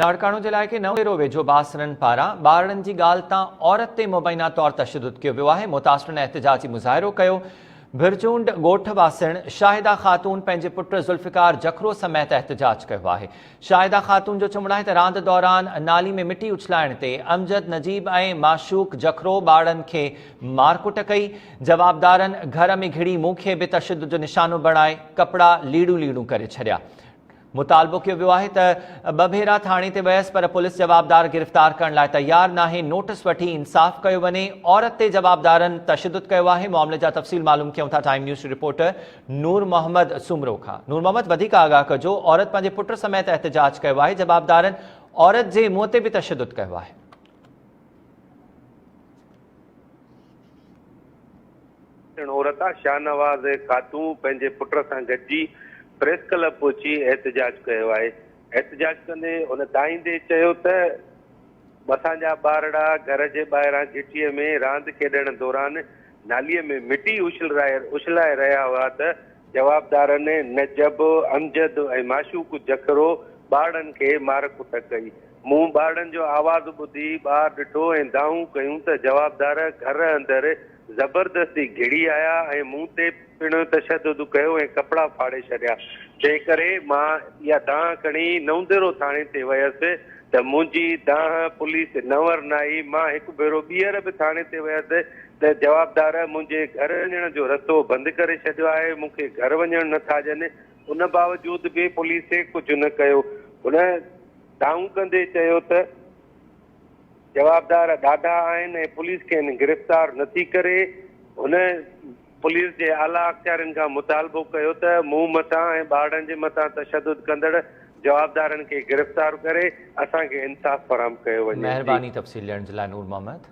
لاڙڪاڻو جي علائقي نئون ڏيرو ويجهو باسرن پاران ٻارڙن جي ڳالهه تان عورت تي مبينا طور تشدد ڪيو ويو آهي متاثرن احتجاجي مظاهرو ڪيو ڀرچونڊ ڳوٺ واسڻ شاهده خاتون پنهنجي پٽ ذوالفقار جکرو سميت احتجاج ڪيو آهي شاهده خاتون جو چوڻ آهي ته راند دوران نالي ۾ مٽي اڇلائڻ تي امجد نجيب ۽ معشوق جکرو ٻارڙن کي مارڪٽ ڪئي جوابدارن گهر ۾ گهڙي مون کي به تشدد جو نشانو بڻائي ڪپڙا ليڙون ليڙون ڪري ڇڏيا مطالبو ڪيو ويو آهي ته ٻه ڀيرا ٿاڻي تي ويس پر پوليس جوابدار گرفتار ڪرڻ لاء تيار ناهي، نوٽس وٺي انصاف ڪيو وڃي، عورت تي جوابدارن تشدد ڪيو آهي، معاملي جا تفصيل معلوم ڪيون ٿا time news reporter Noor Muhammad Soomro کان، نور محمد وڌيڪ آگاهه ڪجو، عورت پنهنجي پٽ سميت احتجاج ڪيو آهي، جوابدارن عورت جي منهن تي به تشدد ڪيو آهي. اڻ عورتا شاهنواز خاتون پنهنجي پٽ سان گڏجي پريس ڪلب پهچي احتجاج ڪيو آهي، احتجاج ڪندي هن دانهيندي چيو ته اسان جا ٻارڙا گهر جي ٻاهران گهٽيء ۾ راند کيڏڻ دوران ناليء ۾ مٽي اڇلائي رهيا هئا ته جوابدارن نجب، امجد ۽ معشوق جکرو ٻارڙن کي مار ڪٽ ڪئي. مون ٻارڙن جو آواز ٻڌي ٻاهر ڏٺو ۽ دانهون ڪيون ته جوابدار گهر اندر زبردستي گهڙي آيا ۽ مون تي پڻ تشدد ڪيو ۽ ڪپڙا ڦاڙي ڇڏيا، تنهنڪري مان اها دانهن کڻي نئونديرو ٿاڻي تي ويس ته منهنجي دانهن پوليس ننور ناهي، مان هڪ ڀيرو ٻيهر به ٿاڻي تي ويس ته جوابدار منهنجي گهر وڃڻ جو رستو بند ڪري ڇڏيو آهي، مون کي گهر وڃڻ نه ٿا ڏين، ان باوجود به پوليس ڪجهه نه ڪيو، هن دانهون ڪندي چيو ته جوابدار ڏاڍا آهن ۽ پوليس کين گرفتار نٿي ڪري، هن. پوليس جي اعليٰ اختيارين کان مطالبو ڪيو ته مون مٿان ۽ ٻارڙن جي مٿان تشدد ڪندڙ جوابدارن کي گرفتار ڪري اسان کي انصاف فراهم ڪيو وڃي. مهرباني تفصيل ڏيڻ جي لاء نور محمد.